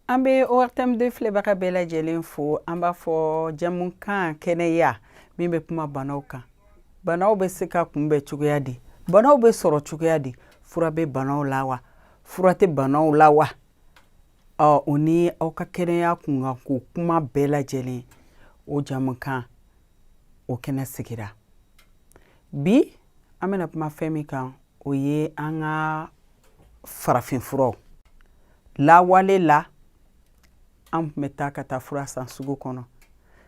An bɛ ORTM deux filɛbaga bɛɛ lajɛlen fo an b'a fɔ jamukan kɛnɛya min bɛ kuma banaw kan banaw bɛ se ka kunbɛn cogoya di banaw bɛ sɔrɔ cogoya di fura bɛ banaw la wa fura tɛ banaw la wa ɔ o ni aw ka kɛnɛya kunkan ko kuma bɛɛ lajɛlen o jamukan o kɛnɛ sigira bi an bɛna kuma fɛn min kan o ye an ka farafinfuraw lawale la an tun bɛ taa ka taa fura san sugu kɔnɔ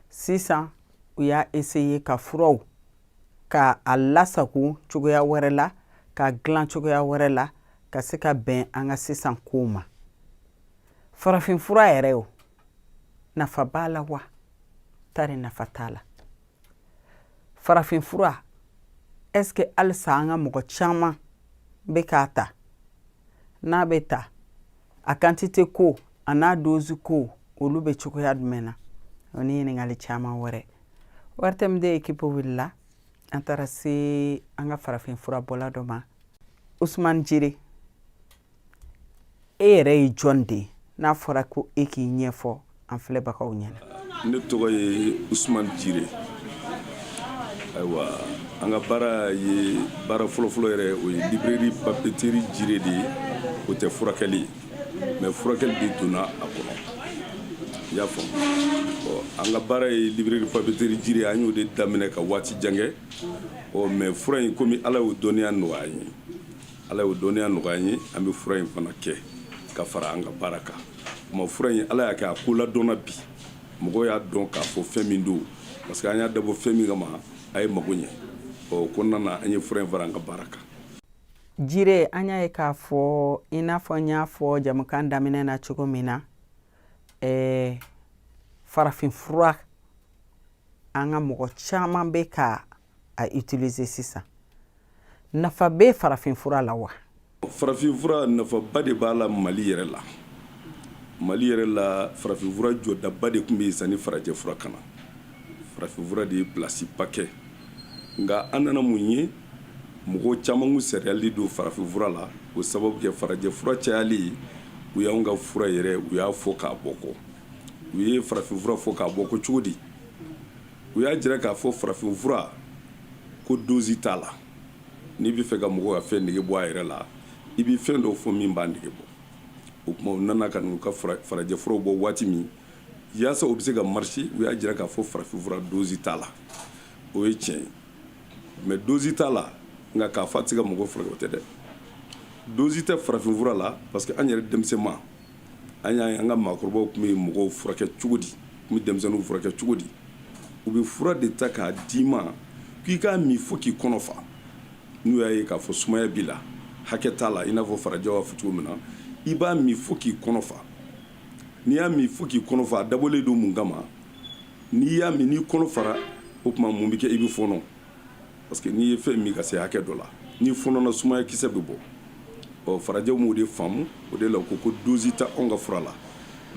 sisan u y'a eseye ka furaw ka a lasago cogoya wɛrɛ la k'a dilan cogoya wɛrɛ la ka se ka bɛn an ka sisan kow ma farafinfura yɛrɛ o nafa b'a la wa tari nafa t'a la farafinfura est ce que halisa an ka mɔgɔ caman bɛ k'a ta n'a bɛ ta a kantite ko a n'a dozi ko olu bɛ cogoya jumɛn na o ni ɲininkali caman wɛrɛ ORTM deux ekipu wulila an taara se an ka farafin fura bɔla dɔ ma usumani jire e yɛrɛ ye jɔn de ye n'a fɔra ko e k'i ɲɛfɔ an filɛbagaw ɲɛna ne tɔgɔ ye usman jire ayiwa an ka baara ye baara fɔlɔfɔlɔ yɛrɛ o ye libreri papeteri jire de ye o tɛ furakɛli ye mɛ furakɛli de donna a kɔnɔ i y'a faamu ɔ an ka baara ye libreri papeteri jire an y'o de daminɛ ka waati jan kɛ ɔ mɛ fura in komi ala y'o dɔnniya nɔgɔya an ye Ala y'o dɔnniya nɔgɔya an ye an bɛ fura in fana kɛ ka fara an ka baara kan mɛ fura in ala y'a kɛ a ko ladɔnna bi mɔgɔw y'a dɔn k'a fɔ fɛn min don parce que an y'a dabɔ fɛn min kama a ye mago ɲɛ o kɔnɔna na an ye fura in fara an ka baara kan jire an y'a ye k'a fɔ i n'a fɔ n y'a fɔ jamukan daminɛ na cogo min na ɛɛ farafin fura an ka mɔgɔ caman bɛ ka a utiliser sisan nafa bɛ farafinfura la wa farafinfura nafaba de b'a la mali yɛrɛ la mali yɛrɛ la farafinfura jɔdaba de tun bɛ yen sanni farajɛfura ka na farafinfura de ye plasiba kɛ nka an nana mun ye mɔgɔ caman sariyali don farafinfura la o sababu kɛ farajɛfura cayali ye u y'an ka fura yɛrɛ u y'a fɔ k'a bɔ kɔ u ye farafinfura fɔ k'a bɔ kɔ cogo di u y'a jira k'a fɔ farafinfura ko dosi t'a la n'i bɛ fɛ ka mɔgɔ ka fɛn nege bɔ a yɛrɛ la i bɛ fɛn dɔw fɔ min b'a nege bɔ o tuma u nana ka n'u ka farajɛfuraw bɔ waati min yaasa u bɛ se ka marcher u y'a jira k'a fɔ farafinfura dosi t'a la o ye tiɲɛ ye mɛ dosi t'a la nka k'a fɔ a tɛ se ka mɔgɔ furakɛ o tɛ dɛ dosi tɛ farafinfura la parce que an yɛrɛ denmisɛnma an y'a ye an ka maakɔrɔbaw tun bɛ mɔgɔw furakɛ cogo di tun bɛ denmisɛnninw furakɛ cogo di u bɛ fura de ta k'a d'i ma k'i k'a min fo k'i kɔnɔ fa n'u y'a ye k'a fɔ sumaya b'i la hakɛ t'a la i n'a fɔ farajɛw b'a fɔ cogo min na i b'a min fo k'i kɔnɔ fa n'i y'a min fo k'i kɔnɔ fa a dabɔlen don mun kama n'i y'a min n'i kɔnɔ fara o tuma mun bɛ kɛ i bɛ fɔɔnɔ Parce que n'i ye fɛn min ka se hakɛ dɔ la n'i fɔɔnɔna sumaya kisɛ bɛ bɔ ɔ farajɛw m'o de faamu o de la u ko ko dosi tɛ anw ka fura la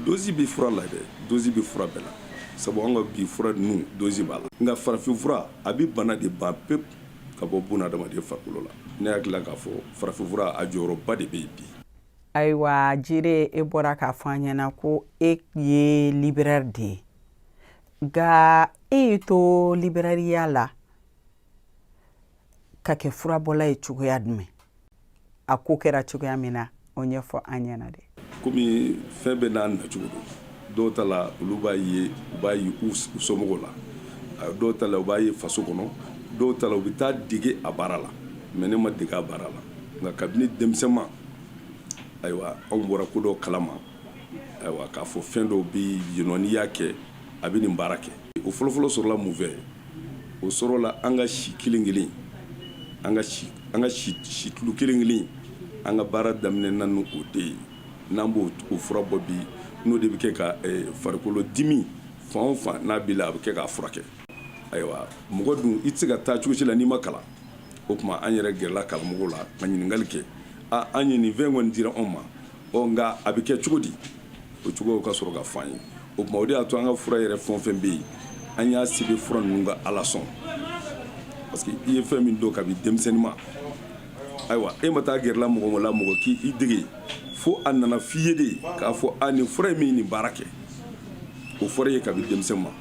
dosi bɛ fura la dɛ dosi bɛ fura bɛɛ la sabu an ka bi fura ninnu dosi b'a la nka farafin fura a bɛ bana de ban pewu ka bɔ bunadamaden farikolo la ne hakili la k'a fɔ farafin fura a jɔyɔrɔba de bɛ yen bi ayiwa jire e bɔra k'a fɔ an ɲɛna ko e ye libraire de ye nka e y'i to liberariya la ka kɛ furabɔla ye cogoya jumɛn a ko kɛra cogoya min na o ɲɛfɔ an ɲɛna dɛ komi fɛn bɛɛ n'a nacogo don dɔw ta la olu b'a ye u b'a ye u somɔgɔw la dɔw ta la u b'a ye faso kɔnɔ dɔw ta la u bɛ taa dege a baara la mɛ ne ma dege a baara la nka kabini denmisɛnma ayiwa anw bɔra ko dɔ kalama k'a fɔ fɛn dɔw bɛ yen n'i y'a kɛ a bɛ nin baara kɛ o fɔlɔfɔlɔ sɔrɔla mun fɛ o sɔrɔla an ka si kelen kelen an ka situlu kelen kelen an ka baara daminɛna n'o de ye n'an b'o fura bɔ bi n'o de bɛ kɛ ka farikolo dimi fan o fan n'a b'i la a bɛ kɛ k'a furakɛ ayiwa mɔgɔ dun i tɛ se ka taa cogo si la n'i ma kalan o tuma an yɛrɛ gɛrɛla karamɔgɔ la ka ɲininkali kɛ an ye nin fɛn kɔni dira anw ma ɔ nka a bɛ kɛ cogo di o cogo ka sɔrɔ ka fɔ an ye o tuma o de y'a to an ka fura yɛrɛ fɛn o fɛn bɛ yen an y'a sɛbɛn fura ninnu ka ala sɔn parce que i ye fɛn min dɔn kabi denmisɛnninma ayiwa e ma taa gɛrɛla mɔgɔ la mɔgɔ k'i dege fo a nana f'i ye de k'a fɔ a nin fura in bɛ nin baara kɛ o fɔra i ye kabi denmisɛnninma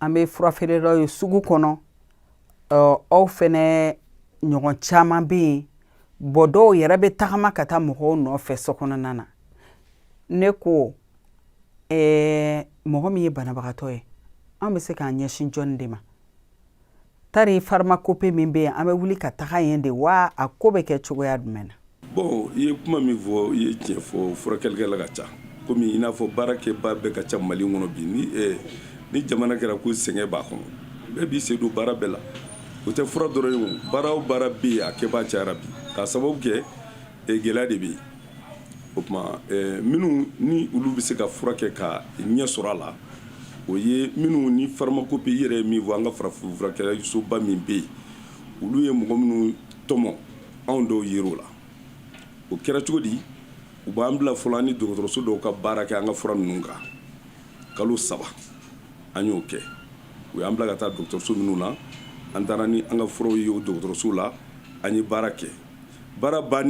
an bɛ fura feerelaw ye sugu kɔnɔ aw fɛnɛ ɲɔgɔn caman bɛ yen bɔ dɔw yɛrɛ bɛ tagama ka taa mɔgɔw nɔfɛ so kɔnɔna na ne ko mɔgɔ min ye banabagatɔ ye an bɛ se k'an ɲɛsin jɔnni de ma tari pharmacopée min bɛ yen an bɛ wuli ka taga yen de wa a ko bɛ kɛ cogoya jumɛn na bon i ye kuma min fɔ i ye tiɲɛ fɔ furakɛlikɛla ka ca komi i n'a fɔ baarakɛbaa bɛɛ ka ca mali kɔnɔ bi ni eh, ni jamana kɛra ko sɛgɛn b'a kɔnɔ bɛɛ b'i sen don baara bɛɛ la o tɛ fura dɔrɔn ye o baara o baara bɛ yen a kɛbaa cayara bi k'a sababu kɛ eh, gɛlɛya de bɛ yen o tuma minnu ni olu bɛ se ka fura kɛ ka ɲɛ sɔrɔ a la o ye minnu ni pharmacopée i yɛrɛ ye min fɔ an ka farafin furakɛsoba min bɛ yen olu ye mɔgɔ minnu tɔmɔ anw dɔw yer'o la o kɛra cogo di u b'an bila fɔlɔ an ni dɔgɔtɔrɔso dɔw ka baara kɛ an ka fura ninnu kan kalo saba an y'o kɛ u y'an bila ka taa dɔgɔtɔrɔso minnu na an taara ni an ka furaw ye o dɔgɔtɔrɔso la an ye baara kɛ baara ban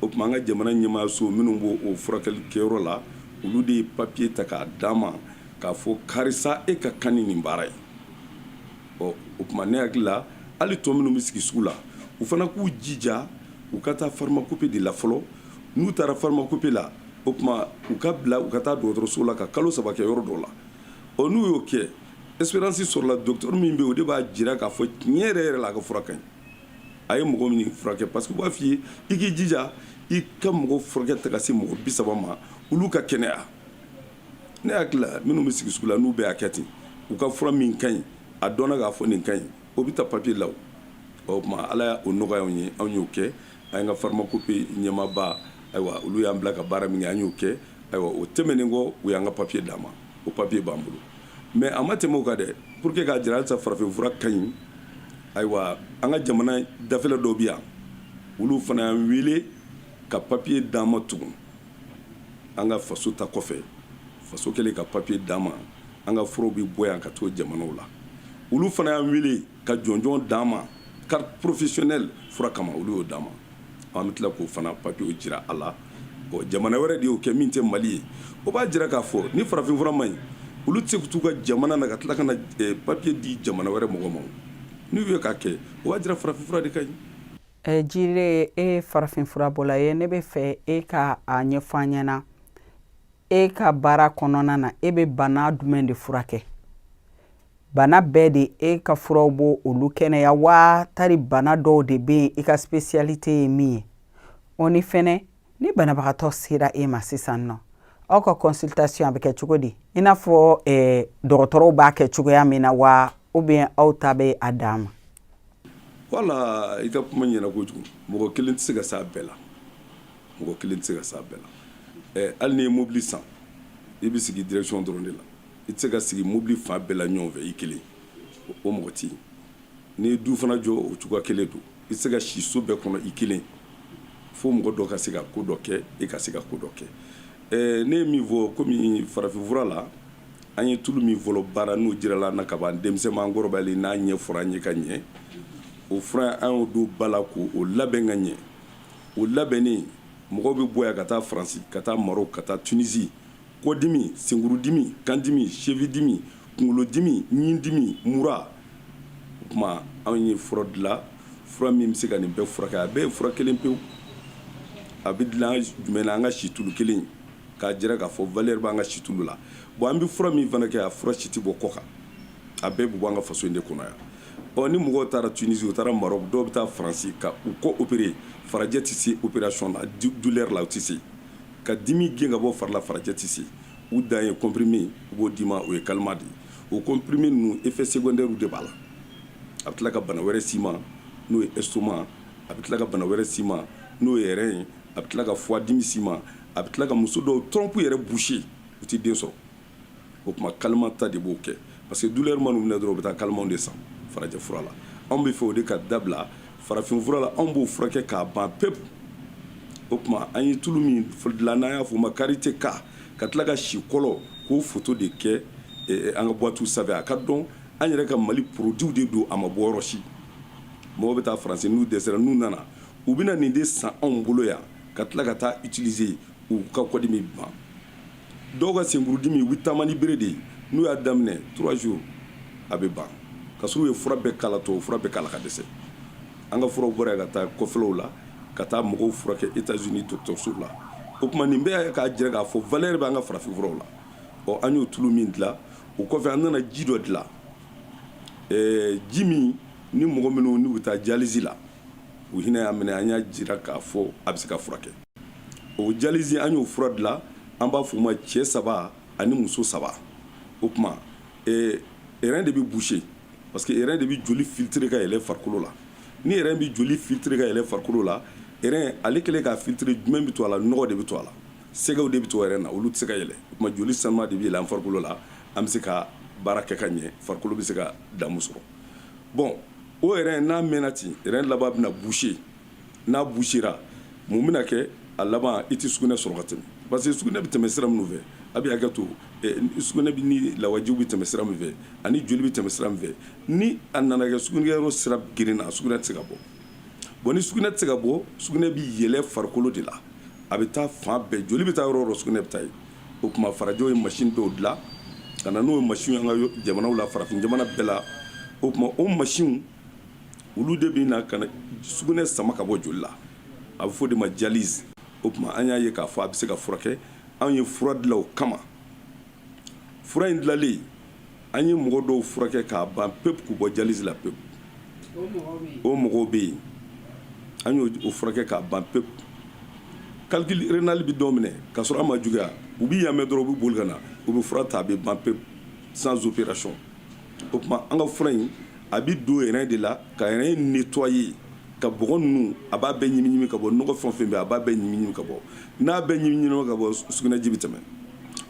o tuma an ka jamana ɲɛmaayaso minnu b'o o furakɛli kɛyɔrɔ la olu de ye papiye ta k'a d'an ma k'a fɔ karisa e ka kan ni nin baara ye ɔ o tuma ne hakili la hali tɔ minnu bɛ sigi sugu la u fana k'u jija u ka taa pharmacopée de la fɔlɔ n'u taara pharmacopée la o tuma u ka bila u ka taa dɔgɔtɔrɔso la ka kalo saba kɛ yɔrɔ dɔ la ɔ n'u y'o kɛ expérience sɔrɔla dɔgɔtɔrɔ min bɛ yen o de b'a jira k'a fɔ tiɲɛ yɛrɛ yɛrɛ la a ka fura ka ɲi a ye mɔgɔ min furakɛ parce que u b'a f'i ye i k'i jija i ka mɔgɔ furakɛ taa ka se mɔgɔ bi saba ma olu ka kɛnɛya ne hakili la minnu bɛ sigi sugu la n'u bɛɛ y'a kɛ ten u ka fura min ka ɲi a dɔnna k'a fɔ nin ka ɲi o bɛ taa papiye la o tuma ala y'o nɔgɔya anw ye anw y'o kɛ an ka pharmacopée ɲɛmaaba ayiwa olu y'an bila ka baara min kɛ an y'o kɛ ayiwa o tɛmɛnen kɔ u y'an ka papiye d'an ma o papiye b'an bolo mais a ma tɛmɛ o kan dɛ pour que k'a jira halisa farafinfura ka ɲi ayiwa an ka jamana dafɛla dɔw bi yan olu fana y'an wele ka papiye d'an ma tugun an ka faso ta kɔfɛ faso kɛlen ka papiye d'an ma an ka furaw bi bɔ yan ka t'o jamanaw la olu fana y'an wele ka jɔnjɔn d'an ma carte professionnelle fura kama olu y'o d'an ma an bɛ tila k'o fana papiye jira a la jamana wɛrɛ de y'o kɛ min tɛ mali ye o b'a jira k'a fɔ ni farafinfura man ɲi olu tɛ se ka t'u ka jamana na ka tila ka na papiye di jamana wɛrɛ mɔgɔ ma n'u ye k'a kɛ o b'a jira farafinfura de ka ɲi ɛ jire e farafinfura bɔla ye ne bɛ fɛ e ka a ɲɛfɔ an ɲɛna na e ka baara kɔnɔna na e bɛ bana jumɛn de furakɛ bana bɛɛ de e ka furaw b'o olu kɛnɛya wa tari bana dɔw de bɛ yen i ka spécialité ye min ye o ni fɛnɛ ni banabagatɔ sera e ma sisan nɔ aw ka consultation a bɛ kɛ cogo di i n'a fɔ eh, dɔgɔtɔrɔw b'a kɛ cogoya min na wa ou bien aw ta bɛ a dan ma wala i ka kuma ɲɛna kojugu mɔgɔ kelen tɛ se ka s'a bɛɛ la mɔgɔ kelen tɛ se ka s'a bɛɛ la eh, hali n'i ye mobili san i bɛ sigi direction dɔrɔn de la i tɛ se ka sigi mobili fan bɛɛ la ɲɔgɔn fɛ i kelen o mɔgɔ tɛ yen n'i ye du fana jɔ o cogoya kelen don i tɛ se ka si so bɛɛ kɔnɔ i kelen fo mɔgɔ dɔ ka se ka ko dɔ kɛ e ka se ka ko dɔ kɛ ne ye min fɔ kɔmi farafinfura la an ye tulu min fɔlɔ baara n'o jirala an na ka ban denmisɛnman an kɔrɔbayalen n'a ɲɛfɔra an ye ka ɲɛ o fura an y'o don ba la k'o labɛn ka ɲɛ o labɛnnen mɔgɔw bɛ bɔ yan ka taa faransi ka taa marɔku ka taa tunisi kɔdimi senkurudimi kandimi cheville dimi kunkolodimi ɲindimi mura o tuma anw ye fura dilan fura min bɛ se ka nin bɛɛ furakɛ a bɛɛ ye fura kelen pewu a bɛ dilan jumɛn na an ka situlu kelen k'a jira k'a fɔ valeur b'an ka situlu la bon an bɛ fura min fana kɛ a fura si tɛ bɔ kɔ kan a bɛɛ bɛ bɔ an ka faso in de kɔnɔ yan ɔ ni mɔgɔw taara tunisi u taara marɔku dɔw bɛ taa faransi ka u kɔ opérer farajɛ tɛ se opération na douleur la u tɛ se Ka dimi gɛn ka bɔ fari la farajɛ tɛ se. U dan ye comprimé, u b'o d'i ma, o ye calmant de ye. O comprimé ninnu effets secondaires de b'a la. A bɛ tila ka bana wɛrɛ s'i ma, n'o ye estomac, a bɛ tila ka bana wɛrɛ s'i ma, n'o ye rein, a bɛ tila ka foie dimi s'i ma, a bɛ tila ka muso dɔw trompe yɛrɛ boucher, u tɛ den sɔrɔ. o tuma calmant ta de b'o kɛ parce que douleur man'u minɛ dɔrɔn u bɛ taa calmant de san farajɛ fura la anw bɛ fɛ o de ka dabila farafin fura la anw b'o furakɛ k'a ban pewu o tuma an ye tulu min dilan n'an y'a fɔ o ma karité ka tila ka sikolo k'o foto de kɛ an ka boîte sanfɛ a ka dɔn an yɛrɛ ka mali produit de don a ma bɔ yɔrɔ si mɔgɔw bɛ taa faransi n'u dɛsɛra n'u nana u bɛ na nin de san anw bolo yan ka tila ka taa utiliser u ka kɔdimi ban dɔw ka senkurudimi u bɛ taama ni bere de ye n'u y'a daminɛ trois jours a bɛ ban ka sɔrɔ u ye fura bɛɛ kala tubabu fura bɛɛ kala ka dɛsɛ an ka furaw bɔra ka taa kɔfɛlaw la ka taa mɔgɔw furakɛ États-Unis dɔgɔtɔrɔsow la o tuma nin bɛɛ k'a jira k'a fɔ valeur bɛ an ka farafin furaw la ɔ an y'o tulu min dilan o kɔfɛ an nana ji dɔ dilan ɛɛ ji min ni mɔgɔ minnu n'u bɛ taa dialyse la u hinɛ y'a minɛ an y'a jira k'a fɔ a bɛ se ka furakɛ o dialyse an y'o fura dilan an b'a f'o ma cɛ saba ani muso saba o tuma eh, rein de bɛ boucher parce que rein de bɛ joli filtrer ka yɛlɛ farikolo la ni rein bɛ joli filtrer ka yɛlɛ farikolo la rein ale kɛlen k'a filtrer jumɛn bɛ to a la nɔgɔ de bɛ to a la sɛgɛw de bɛ to rein na olu tɛ se ka yɛlɛ o tuma joli sanuman de bɛ yɛlɛ an farikolo la an bɛ se ka baara kɛ ka ɲɛ farikolo bɛ se ka damu sɔrɔ bon o rein n'a mɛnna ten rein laban bɛna boucher n'a bouchera mun bɛna kɛ a laban i tɛ sugunɛ sɔrɔ ka tɛmɛ parce que sugunɛ bɛ tɛmɛ sira minnu fɛ a bɛ hakɛ to eh, sugunɛ bɛ ni lawajiw bɛ tɛmɛ sira min fɛ ani joli bɛ tɛmɛ sira min fɛ ni a nana kɛ sugunɛkɛyɔrɔ sira gerenna sugunɛ tɛ se ka bɔ bon ni sugunɛ tɛ se ka bɔ sugunɛ bɛ yɛlɛ farikolo de la a bɛ taa fan bɛɛ joli bɛ taa yɔrɔ o yɔrɔ sugunɛ bɛ taa yen o tuma farajɛw ye machine dɔw dilan ka na n'o ye machine an ka jamanaw la farafin jamana bɛɛ la o tuma o machine olu de bɛ na ka na sugunɛ sama ka bɔ joli la a bɛ fɔ o de ma dialyse o tuma an y'a ye k'a fɔ a bɛ se ka furakɛ anw ye fura dilan o kama fura in dilannen an ye mɔgɔ dɔw furakɛ k'a ban pepu k'u bɔ dialyse la pepu o mɔgɔw bɛ yen an y'o furakɛ k'a ban pepu calcul rénal bɛ dɔw minɛ ka sɔrɔ a ma juguya u bɛ yan mɛn dɔrɔn u bɛ boli ka na u bɛ fura ta a bɛ ban pepu sans opération o tuma an ka fura in a bɛ don rein de la ka rein nettoyer ka bɔgɔ ninnu a b'a bɛɛ ɲimiɲimi ka bɔ nɔgɔ fɛn o fɛn bɛ a b'a bɛɛ ɲimiɲimi ka bɔ n'a bɛ ɲimiɲimi ka bɔ sugunɛji bɛ tɛmɛ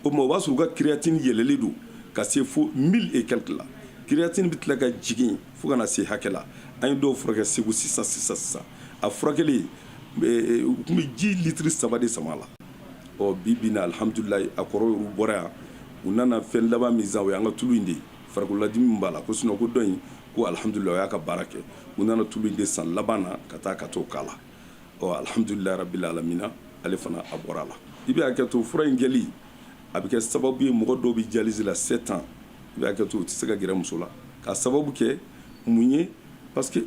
o tuma o b'a sɔrɔ u ka créatine yɛlɛlen don ka se fo mille et quelque la créatine bɛ tila ka jigin fo ka na se hakɛ la an ye dɔw furakɛ segu sisan sisan sisan a furakɛli u tun bɛ ji litiri saba de sama a la ɔ bi bi in na alihamdulila a kɔrɔ bɔra yan u nana fɛn laban min san o ye an ka tulu in de ye Farikololadimi b'a la ko sinon ko dɔ in ko alihamdulila o y'a ka baara kɛ u nana tulu de san laban na ka taa ka t'o k'a la ɔ alihamdulila rabil alamina ale fana a bɔra a la i bɛ hakɛ to fura in kɛli a bɛ kɛ sababu ye mɔgɔ dɔw bɛ dialyse la sept ans i bɛ hakɛ to u tɛ se ka gɛrɛ muso la k'a sababu kɛ mun ye parce que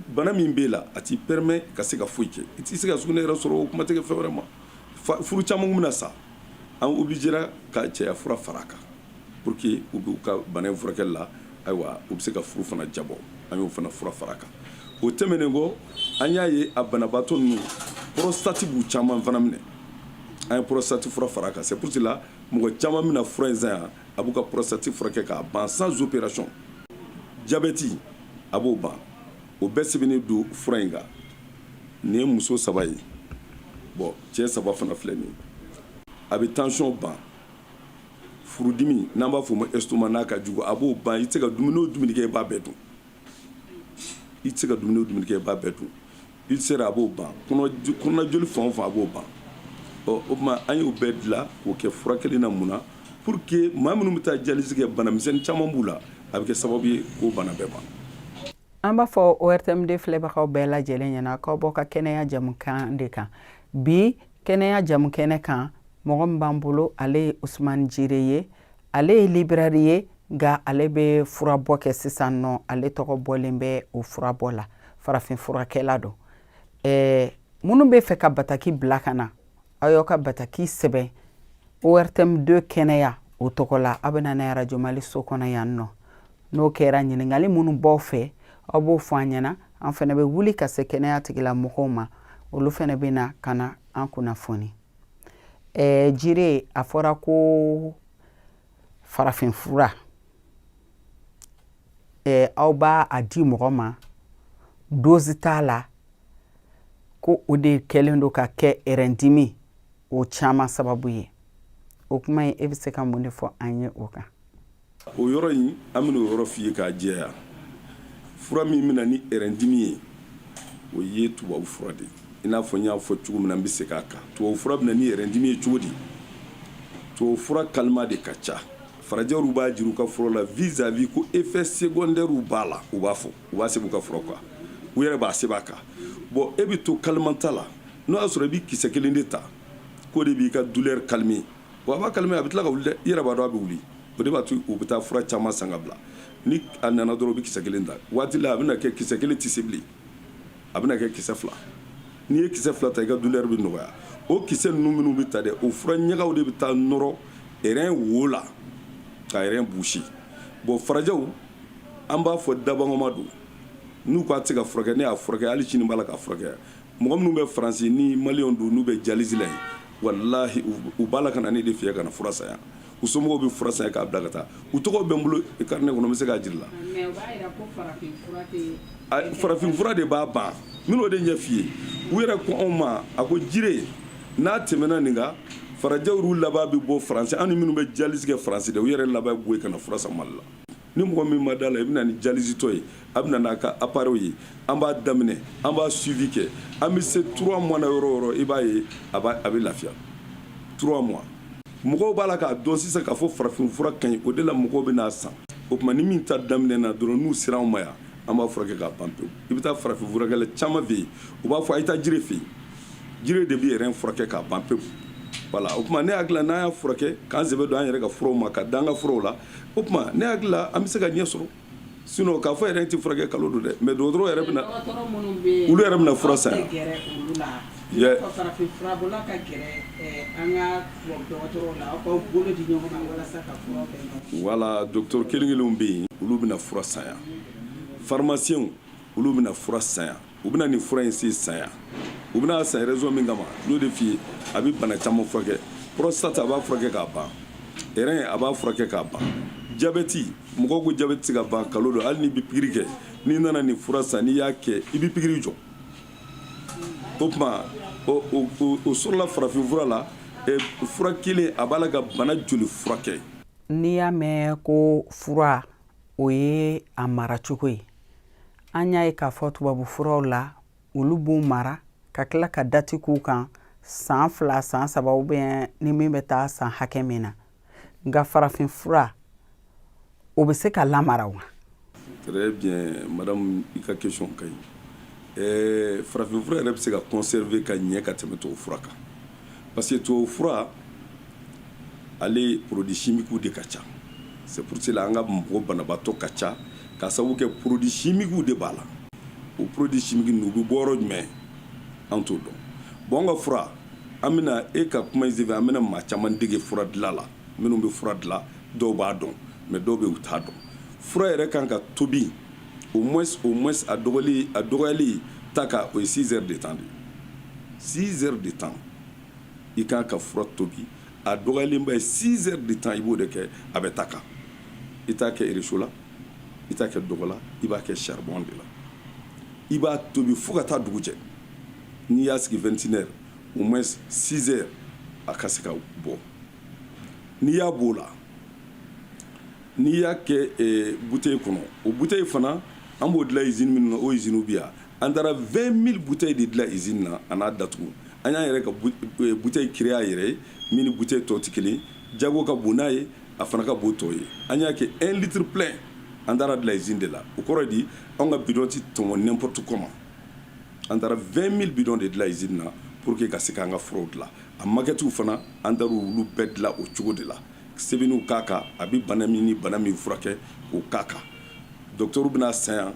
bana min b'i la a t'i permet ka se ka foyi kɛ i tɛ se ka sugunɛ yɛrɛ sɔrɔ o kuma tɛ fɛn wɛrɛ ma furu caman bɛna sa an obligera ka cɛya fura fara a kan pour que u b'u ka bana furakɛli la ayiwa u bɛ se ka furu fana diyabɔ an y'o fana fura fara a kan o tɛmɛnen kɔ an y'a ye a banabaatɔ ninnu prostate b'u caman fana minɛ an ye prostate fura fara a kan c'est pour cela mɔgɔ caman bɛna fura in san yan a b'u ka prostate furakɛ k'a ban sans opération diabète a b'o ban o bɛɛ sɛbɛnnen don fura in kan nin ye muso saba ye bon cɛ saba fana filɛ nin ye a bɛ tension ban furudimi n'an b'a fɔ o ma estomac n'a ka jugu a b'o ban i tɛ se ka dumuni o dumuni kɛ i b'a bɛɛ dun i tɛ se ka dumuni o dumuni kɛ i b'a bɛɛ dun ulcère a b'o ban kɔnɔjoli fan o fan a b'o ban ɔ o tuma an y'o bɛɛ dilan k'o kɛ fura kelen na mun na pour que maa minnu bɛ taa dialyse kɛ banamisɛn caman b'u la a bɛ kɛ sababu ye k'o bana bɛɛ ban an b'a fɔ ortm 2 filɛbagaw bɛɛ lajɛlen ɲɛna k'aw bɔ ka kɛnɛya jamukan de kan bi kɛnɛya jamu kɛnɛ kan mɔgɔ min b'an bolo ale ye usumani jire ye ale ye libraire ye nka ale bɛ furabɔ kɛ sisan nɔ ale tɔgɔ bɔlen bɛ o furabɔ la farafin furakɛla don ɛɛ minnu bɛ fɛ ka bataki bila ka na aw y'aw ka bataki sɛbɛn ortm 2 kɛnɛya o tɔgɔ la aw bɛ na n'a ye arajo mali so kɔnɔ yan nɔ n'o kɛra ɲininkali minnu b'aw fɛ aw b'o fɔ an ɲɛna an fana bɛ wuli ka se kɛnɛya tigilamɔgɔw ma olu fana bɛ na ka na an kunnafoni ɛɛ jire a fɔra ko farafinfura ɛɛ aw b'a a di mɔgɔ ma dozi t'a la ko o de kɛlen don ka kɛ rɛndimi o caman sababu ye o kuma ye e bɛ se ka mun de fɔ an ye o kan o yɔrɔ in an bɛna o yɔrɔ f'i ye k'a jɛya fura min bɛna ni rɛndimi ye o ye tubabu fura de ye i n'a fɔ n y'a fɔ cogo min na n bɛ segin a kan tubabu fura bɛna ni rɛndimi ye cogo di tubabu fura calmant de ka ca farajɛw b'a jira u ka fura la vis-à-vis ko effet secondaire b'a la u b'a fɔ u b'a sɛbɛn u ka fura kan u yɛrɛ b'a sɛbɛn a kan bon e bɛ to calmant ta la n'o y'a sɔrɔ i bɛ kisɛ kelen de ta k'o de b'i ka douleur calmer wa a b'a calmer a bɛ tila ka wuli i yɛrɛ b'a dɔn a bɛ wuli o de b'a to u bɛ taa fura caman san ka bila ni a nana dɔrɔn u bɛ kisɛ kelen ta waati la a bɛ kɛ kisɛ kelen tɛ se bilen a bɛ kɛ kisɛ fila n'i ye kisɛ fila ta i ka douleur bɛ nɔgɔya o kisɛ ninnu minnu bɛ ta dɛ o fura ɲagaw de bɛ taa nɔrɔ rɛn wo la ka rɛn boucher bon farajɛw an b'a fɔ dabama don n'u k'a se ka furakɛ ne y'a furakɛ hali sini b'a la ka furakɛ mɔgɔ minnu bɛ faransi ni maliyɛn don n'u bɛ dialyse la yen walayi u b'a la ka na ne de fɛ yan ka na fura san yan u somɔgɔw bɛ fura san yan k'a bila ka taa u tɔgɔ bɛ n bolo carnet kɔnɔ n bɛ se k'a jira i la farafin fura de b'a ban n b'o de ɲɛfɔ i ye u yɛrɛ ko anw ma a ko jire n'a tɛmɛna nin kan farajɛw laban bɛ bɔ faransi ani minnu bɛ dialyse kɛ faransi dɛ u yɛrɛ laban bɔ yen ka na fura san mali la ni mɔgɔ min ma da la i bɛna ni jalizitɔ ye a bɛ na n'a ka appareil ye an b'a daminɛ an b'a suivi kɛ an bɛ se 3 mois na yɔrɔ o yɔrɔ i b'a ye a a bɛ lafiya 3 mois mɔgɔw b'a la k'a dɔn sisan k'a fɔ farafin fura ka ɲi o de la mɔgɔw bɛ n'a san o tuma ni min ta daminɛna dɔrɔn n'u sera anw ma yan an b'a furakɛ k'a ban pewu i bɛ taa farafin furakɛla caman fɛ yen u b'a fɔ a ye taa jire fɛ yen jire de bɛ rɛn furakɛ k'a ban pewu voilà o tuma ne hakili la n'an y'a furakɛ k'an sɛbɛ don an yɛrɛ ka furaw ma ka da an ka fura la o tuma ne hakili la an bɛ se ka ɲɛ sɔrɔ sinon k'a fɔ rein tɛ furakɛ nkalon don dɛ mais dɔgɔtɔrɔ yɛrɛ bɛna olu yɛrɛ bɛna fura san voilà docteur kelen kelenw bɛ yen olu bɛna fura san yan faramasiyɛnw olu bɛna fura san yan u bɛna nin fura in se san yan u bɛna san raison min kama n'o de f'i ye a bɛ bana caman furakɛ prostate a b'a furakɛ k'a ban rein a b'a furakɛ k'a ban jabɛti mɔgɔw ko jabɛti tɛ se ka ban nkalon don hali n'i bɛ pikiri kɛ n'i nana nin fura san n'i y'a kɛ i bɛ pikiri jɔ o tuma o sɔrɔla farafin fura la fura kelen a b'a la ka bana joli furakɛ n'i y'a mɛn ko fura o ye a mara cogo ye an y'a ye k'a fɔ tubabu furaw la olu b'u mara ka tila ka dati k'u kan san fila san saba ou bien ni min bɛ taa san hakɛ min na nka farafin fura o bɛ se ka lamara wa très bien madame i ka question ka ɲi eh, farafin fura yɛrɛ bɛ se ka conserver ka ɲɛ ka tɛmɛ tubabu fura kan parce que tubabu fura ale produit chimique de ka ca c'est pour cela an ka mɔgɔ banabaatɔ ka ca ka sababu kɛ produit chimique de b'a la o produit chimique ninnu u bɛ bɔ yɔrɔ jumɛn an t'o dɔn bon an ka fura an bɛna e ka kuma in senfɛ an bɛna maa caman dege fura dilan la minnu bɛ fura dilan dɔw b'a dɔn mais dɔw bɛ yen u t'a dɔn fura yɛrɛ kan ka tobi o mɔ o mɔ a dɔgɔyali ta ka o ye sinsɛ de tan de sinsɛ de tan i kan ka fura tobi a dɔgɔlenba ye sinsɛ de tan i b'o de kɛ a bɛ ta kan i t'a kɛ iririso la i t'a kɛ dɔgɔ la i b'a kɛ saribon de la i b'a tobi fo ka taa dugu cɛ n'i y'a sigi2tinɛ o mɔ sinsɛ a ka se ka bɔ n'i y'a b'o la n'i y'a kɛ bu kɔnɔ o bu in fana an b'o dilan z min na o ye zw bi yan an taara v mi bu de dilan z na an n'a dat an y'a yɛrɛ ka bu in ki yɛrɛ ye mini bu tɔti kelen jago ka bon n'a ye a fana ka bon tɔw ye an y'a kɛ e litiriri p an taara bila z de la o kɔrɔ di an ka bidɔnti tɔɔn nptu kɔma an taara v mi bidɔn de dilan zina pur que ka se k' an ka foro dilan A makɛtiw fana an taara olu bɛɛ dilan o cogo de la sɛbɛnniw k'a kan a bɛ bana min ni bana min furakɛ o k'a kan docteur bɛna san yan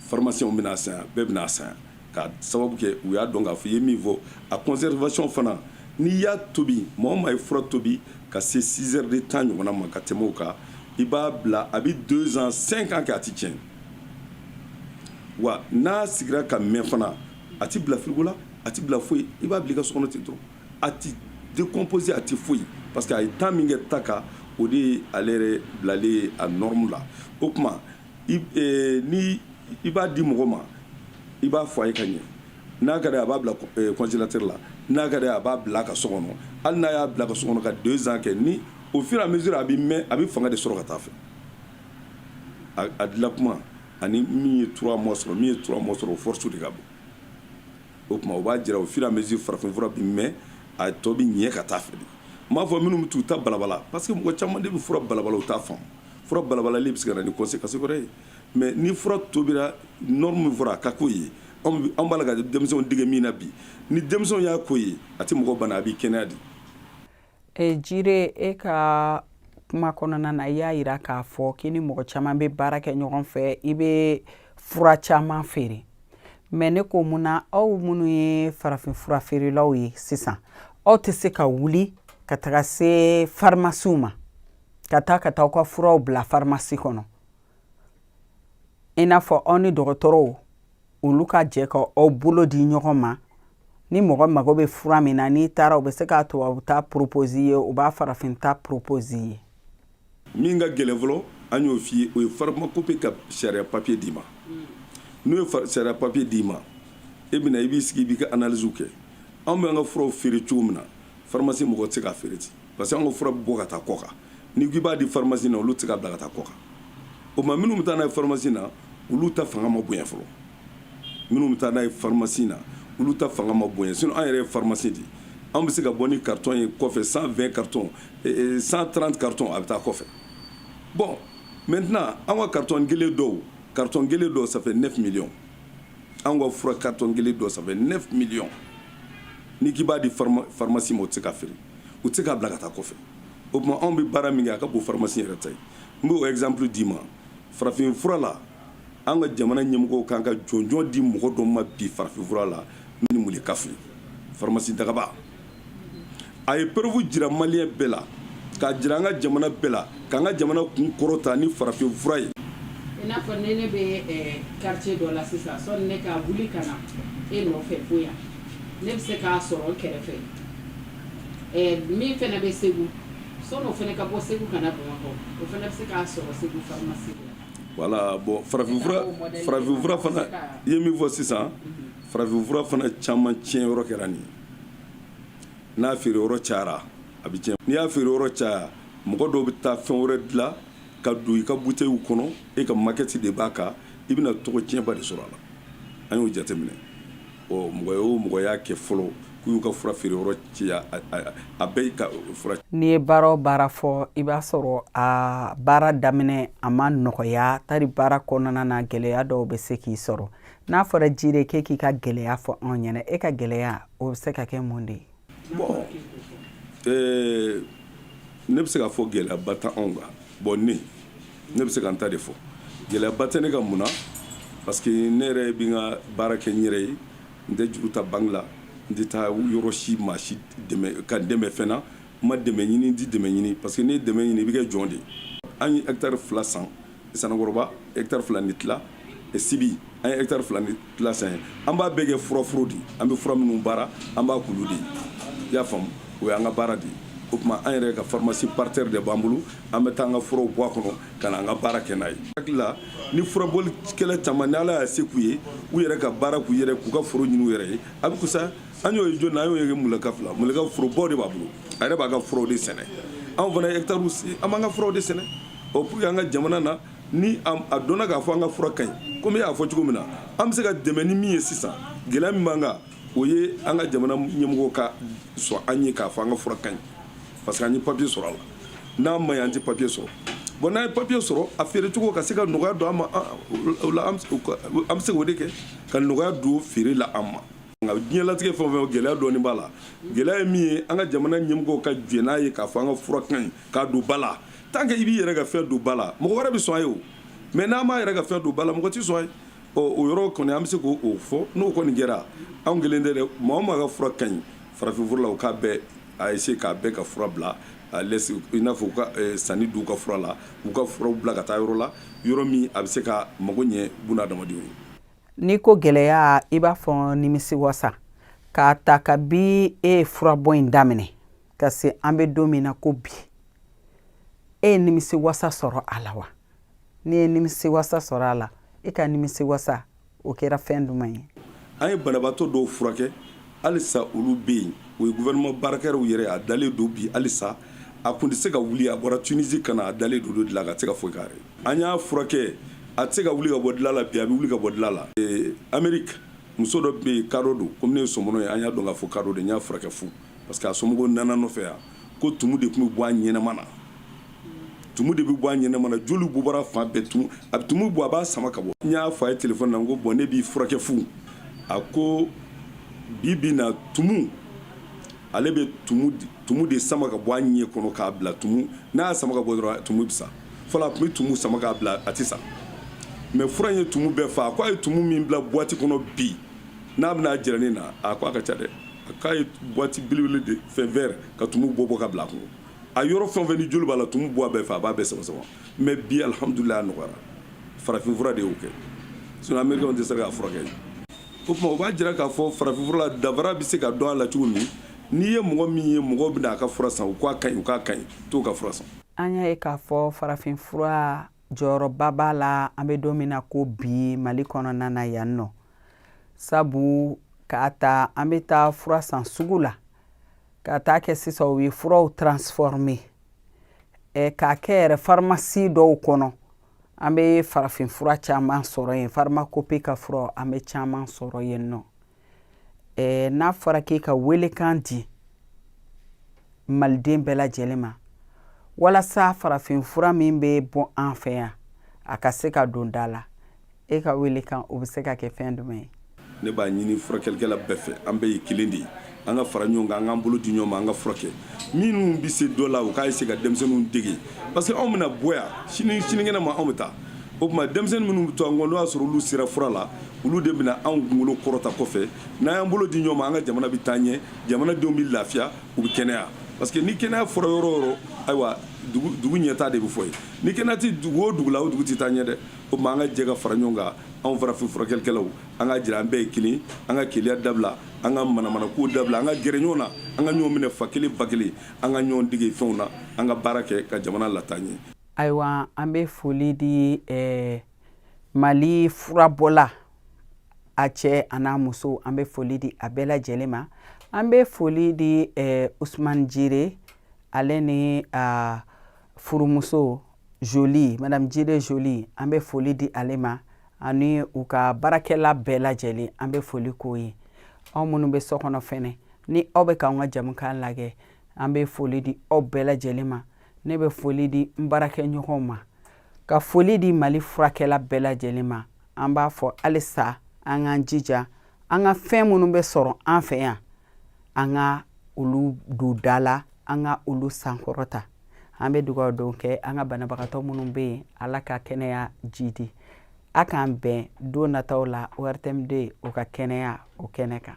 faramasiyɛnw bɛna san yan bɛɛ bɛna san yan ka sababu kɛ u y'a dɔn k'a fɔ i ye min fɔ a conservation fana n'i y'a tobi maa o maa ye fura tobi ka se six heures de temps ɲɔgɔnna ma ka tɛmɛ o kan i b'a bila a bɛ deux ans cinq ans kɛ a tɛ tiɲɛ wa n'a sigira ka mɛn fana a tɛ bila frigo la a tɛ bila foyi i b'a bila i ka so kɔnɔ ten dɔrɔn a tɛ décomposé a tɛ foyi parce que a ye temps min kɛ ta kan o de ye ale yɛrɛ bilalen ye a norme la o tuma i eh, ni i b'a di mɔgɔ ma i b'a fɔ a ye ka ɲɛ n'a ka d'a a b'a bila eh, congélateur la n'a ka d'a a b'a bila a ka so kɔnɔ hali n'a y'a bila a ka so kɔnɔ ka deux ans kɛ ni au fur et à mesure a bɛ mɛn a bɛ fanga de sɔrɔ ka taa fɛ a, a dilan kuma ani min ye trois mois sɔrɔ min ye trois mois sɔrɔ o force de ka bon o tuma o b'a jira au fur et à mesure farafin fura bɛ mɛn a ye tɔ bɛ ɲɛ ka taa fɛ de m'a fɔ minnu bɛ taa u ta balabala parce que mɔgɔ caman de bɛ fura balabala u t'a faamu fura balabalalen bɛ se ka na ni conséquence wɛrɛ ye mɛ ni fura tobira norme min fɔra a ka k'o ye an b'a la ka denmisɛnw dege min na bi ni denmisɛnw y'a k'o ye a tɛ mɔgɔ bana a b'i kɛnɛya de E Jire e ka kuma kɔnɔna na i y'a yira k'a fɔ k'i ni mɔgɔ caman bɛ baara kɛ ɲɔgɔn fɛ i bɛ fura caman feere mɛ ne ko mun na aw minnu ye farafin fura feerelaw ye sisan aw tɛ se ka wuli ka taga se farimasiw ma ka taa ka taa aw ka furaw bila farimasi kɔnɔ i n'a fɔ aw ni dɔgɔtɔrɔw olu ka jɛ ka aw bolo di ɲɔgɔn ma ni mɔgɔ mago bɛ fura min na n'i taara u bɛ se ka tubabu ta poropozi ye u b'a farafin ta poropozi ye min ka gɛlɛn fɔlɔ an y'o f'i ye o ye farimakope ka sariya papiye d'i ma n'o ye sariya papiye d'i ma e bɛna i b'i sigi i b'i ka analiziw kɛ anw b'an ka furaw feere cogo min na farimasi mɔgɔ tɛ se k'a feere ten parce que an ka fura bɛ bɔ ka taa kɔkan n'i ko i b'a di pharmacie na olu tɛ se k'a bila ka taa kɔkan o tuma minnu bɛ taa n'a ye pharmacie na olu ta fanga ma bonya fɔlɔ minnu bɛ taa n'a ye pharmacie na olu ta fanga ma bonya sinon an yɛrɛ ye pharmacie de ye an bɛ se ka bɔ ni carton ye kɔfɛ 120 carton 130 carton a bɛ taa kɔfɛ bon maintenant an ka carton kelen dɔw carton kelen dɔw ça fait 9 millions an ka fura carton kelen dɔw ça fait 9 millions n'i k'i b'a di pharmacie ma o tɛ se k'a feere u tɛ se k'a bila ka taa kɔfɛ o tuma anw bɛ baara min kɛ a ka bon faramasi yɛrɛ ta ye n b'o exemple d'i ma farafin fura la an ka jamana ɲɛmɔgɔw kan ka jɔnjɔn di mɔgɔ dɔ ma bi farafin fura la ni Mulekafu faramasi Dagaba a ye preuve jira maliyɛn bɛɛ la k'a jira an ka jamana bɛɛ la k'an ka jamana kun kɔrɔta ni farafin fura ye i n'a fɔ ne ne bɛ quartier dɔ la sisan sɔni ne ka wuli ka na e nɔfɛ fo yan ne bɛ se k'a sɔrɔ kɛrɛfɛ min fana bɛ Segu sɔni o fana ka bɔ Segu ka na Bamakɔ o fana bɛ se k'a sɔrɔ Segu farimasi la wala bɔn farafin farafin fura fana i ye min fɔ sisan farafin fura fana caman tiɲɛ yɔrɔ kɛra nin n'a feere yɔrɔ cayara a bɛ n'i y'a feere yɔrɔ caya mɔgɔ dɔw bɛ taa fɛn wɛrɛ dilan ka don i ka buteyi kɔnɔ e ka makɛti de b'a kan i bɛna tɔgɔ tiɲɛba de sɔrɔ a la an y'o jateminɛ mɔgɔ o mɔgɔ y'a kɛ fɔlɔ k'u y'u ka fura feere yɔrɔ ci a bɛɛ ka fura n'i ye baara o baara fɔ i b'a sɔrɔ a baara daminɛ a ma nɔgɔya tari baara kɔnɔna na gɛlɛya dɔw bɛ se k'i sɔrɔ n'a fɔra Jire k'e k'i ka gɛlɛya fɔ anw ɲɛna e ka gɛlɛya o bɛ se ka kɛ mun de ye Ne bɛ se k'a fɔ gɛlɛyaba tɛ anw kan bɔn ne ne bɛ se ka n ta de fɔ gɛlɛyaba tɛ ne ka mun na parce que ne yɛrɛ bɛ n ka baara kɛ n yɛrɛ ye n tɛ juru ta banque la n tɛ taa yɔrɔ si maa si dɛmɛ ka n dɛmɛ fɛn na n ma dɛmɛ ɲini n tɛ dɛmɛ ɲini parce que n'i ye dɛmɛ ɲini i bɛ kɛ jɔn de ye an ye hectare fila san Sanankɔrɔba hectare fila ni tila Sibi an ye hectare fila ni tila san ye an b'a bɛɛ kɛ furaforo di an bɛ fura minnu baara an b'a k'olu de ye i y'a faamu o y'an ka baara de ye o tuma an yɛrɛ ka pharmacie par terre de b'an bolo an bɛ taa an ka furaw bɔ a kɔnɔ ka na an ka baara kɛ n'a ye hakili la ni furabolikɛla caman ni ala y'a se k'u ye u yɛrɛ ka baara k'u yɛrɛ k'u ka foro ɲini u yɛrɛ ye a bɛ kusa an y'o ye jɔn an y'o ye mka fila mka forobaw de b'a bolo a yɛrɛ b'a ka furaw de sɛnɛ anw fana hectare an b'an ka furaw de sɛnɛ o pour que an ka jamana na ni a dɔnna k'a fɔ an ka fura ka ɲi komi e y'a fɔ cogo min na an bɛ se ka dɛmɛ ni min ye sisan gɛlɛya min b'an kan o ye an ka jamana ɲɛmɔgɔw ka sɔn an ye k'a fɔ an ka fura ka ɲi parce que an ye papiye sɔrɔ a la n'a ma ɲi an tɛ papiye sɔrɔ bɔn n'an ye papiye sɔrɔ a feere cogo ka se ka nɔgɔya don an ma o la an bɛ se k'o de kɛ ka nɔgɔya don feere la an ma nka diɲɛlatigɛ fɛn o fɛn gɛlɛya dɔɔni b'a la gɛlɛya ye min ye an ka jamana ɲɛmɔgɔw ka jɛn n'a ye k'a fɔ an ka fura ka ɲi k'a don ba la tant que i b'i yɛrɛ ka fɛn don ba la mɔgɔ wɛrɛ bɛ sɔn a ye o mɛ n'an m'an yɛrɛ ka fɛn don ba la mɔgɔ tɛ sɔn a ye ɔ o yɔrɔ kɔni an bɛ se k'o fɔ n'o kɔni kɛra anw kelen tɛ dɛ maa o maa ka fura ka ɲi farafinfura la o k'a bɛɛ a essayer k'a bɛɛ ka fura bila a lɛse i n'a fɔ u ka eh, saniya don u ka fura la u ka furaw bila ka taa yɔrɔ la yɔrɔ min a bɛ se ka mago ɲɛ buna adamadenw ye n'i ko gɛlɛya i b'a fɔ nimisi wasa k'a ta kabi e ye furabɔ in daminɛ ka se an bɛ don min na ko bi e ye nimisi wasa sɔrɔ a la wa n'i ye nimisi wasa sɔrɔ a la i e ka nimisi wasa o kɛra fɛn jumɛn ye an ye banabaatɔ dɔw furakɛ halisa olu bɛ yen o ye gouvernement baarakɛlaw yɛrɛ a dalen don bi halisa a kun tɛ se ka wuli a bɔra Tunisi ka na a dalen don olu de la ka se ka foyi k'a yɛrɛ an y'a furakɛ a tɛ se ka wuli ka bɔ dilan la bi a bɛ wuli ka bɔ dilan la Amérique muso dɔ bɛ yen kadɔ don komi ne ye sɔmɔnɔ ye an y'a dɔn k'a fɔ kadɔ don n y'a furakɛ fu parce que a somɔgɔw nana n nɔfɛ yan ko tumu de tun bɛ bɔ a ɲɛnama na tumu de bɛ bɔ a ɲɛnama na joli b'u bɔra fan bɛɛ tumu a tumu bɔ a b'a sama ka bɔ n y'a fɔ a ye telefɔni na n ko bɔn ne b'i furakɛ fu a ko bi bi na tumu ale bɛ tumu tumu de sama ka bɔ a ɲɛ kɔnɔ k'a bila tumu n'a y'a sama ka bɔ dɔrɔn tumu bɛ sa fɔlɔ a tun bɛ tumu sama k'a bila a tɛ sa mɛ fura in ye tumu bɛɛ fa a ko a ye tumu min bila buwati kɔnɔ bi n'a bɛna jira ne na a ko a ka ca dɛ a k'a ye boite belebele de fɛn vert ka tumu bɔ bɔ ka bila a kɔnɔ a yɔrɔ fɛn fɛn ni joli b'a la tumu bɔ a bɛɛ fɛ a b'a bɛɛ sama sama mais bi alhamdulilayi a nɔgɔyara farafinfura de y'o kɛ sinon américain tɛ se k'a furakɛ o tuma o b'a jira k'a fɔ farafinfura la danfara bɛ se ka dɔn a la cogo min n'i ye mɔgɔ min ye mɔgɔw bɛna a ka fura san u k'a ka ɲi u k'a ka ɲi t'o ka fura san an y'a ye k'a fɔ farafinfura jɔyɔrɔba b'a la an bɛ don min na ko bi mali kɔnɔna na yan nɔ sabu k'a ta an bɛ taa fura san sugu la ka taa kɛ sisan u ye furaw transforme eh, k'a kɛ yɛrɛ farimasi dɔw kɔnɔ an bɛ farafin fura caman sɔrɔ yen farimakope ka fura an bɛ caman sɔrɔ yen nɔ eh, n'a fɔra k'e ka welekan di maliden bɛɛ lajɛlen ma walasa farafin fura min bɛ bɔ an fɛ yan a ka se ka don da la e ka welekan o bɛ se ka kɛ fɛn jumɛn ye ne b'a ɲini furakɛlikɛla bɛɛ fɛ an bɛɛ ye kelen de ye an ka fara ɲɔgɔn kan an k'an bolo di ɲɔgɔn ma an ka furakɛ minnu bɛ se dɔ la u k'a essayer ka denmisɛnninw dege parce que anw bɛna bɔ yan sini sinikɛnɛ ma anw bɛ taa o tuma denmisɛnnin minnu bɛ to an kɔ n'o y'a sɔrɔ olu sera fura la olu de bɛna anw kunkolo kɔrɔta kɔfɛ n'an y'an bolo di ɲɔgɔn ma an ka jamana bɛ taa ɲɛ jamanadenw bɛ lafiya u bɛ kɛnɛya parce que ni kɛnɛya fɔra yɔrɔ o yɔrɔ ayiwa dugu ɲɛtaa de bɛ fɔ yen ni kɛnɛya tɛ dugu o dugu la o dugu tɛ taa ɲɛ dɛ o tuma an ka jɛ ka fara ɲɔgɔn kan anw farafin furakɛlikɛlaw an k'a jira an bɛɛ ye kelen an ka keleya dabila an ka manamanakow dabila an ka gɛrɛ ɲɔgɔn na an ka ɲɔgɔn minɛ fa kelen ba kelen an ka ɲɔgɔn dege fɛnw na an ka baara kɛ ka jamana lataa ɲɛ ayiwa an bɛ foli di eh, mali furabɔla a cɛ a n'a muso an bɛ foli di a bɛɛ lajɛlen ma an bɛ foli di eh, usman jire ale ni uh, furumuso joli madame jire joli an bɛ foli di ale ma ani u ka baarakɛla bɛɛ lajɛlen an bɛ foli k'o ye aw minnu bɛ so kɔnɔ fɛnɛ ni aw bɛ k'an ka jɛmukan lajɛ an bɛ foli di aw bɛɛ lajɛlen ma ne bɛ foli di n baarakɛɲɔgɔnw ma ka foli di mali furakɛla bɛɛ lajɛlen ma an b'a fɔ halisa an k'an jija an ka fɛn minnu bɛ sɔrɔ an fɛ yan an ka olu don da la an ka olu sankɔrɔta an bɛ dugawu don kɛ an ka banabagatɔ minnu bɛ yen ala ka kɛnɛya jidi a k'an bɛn don nataw la ortm deux ka kɛnɛya o kɛnɛ kan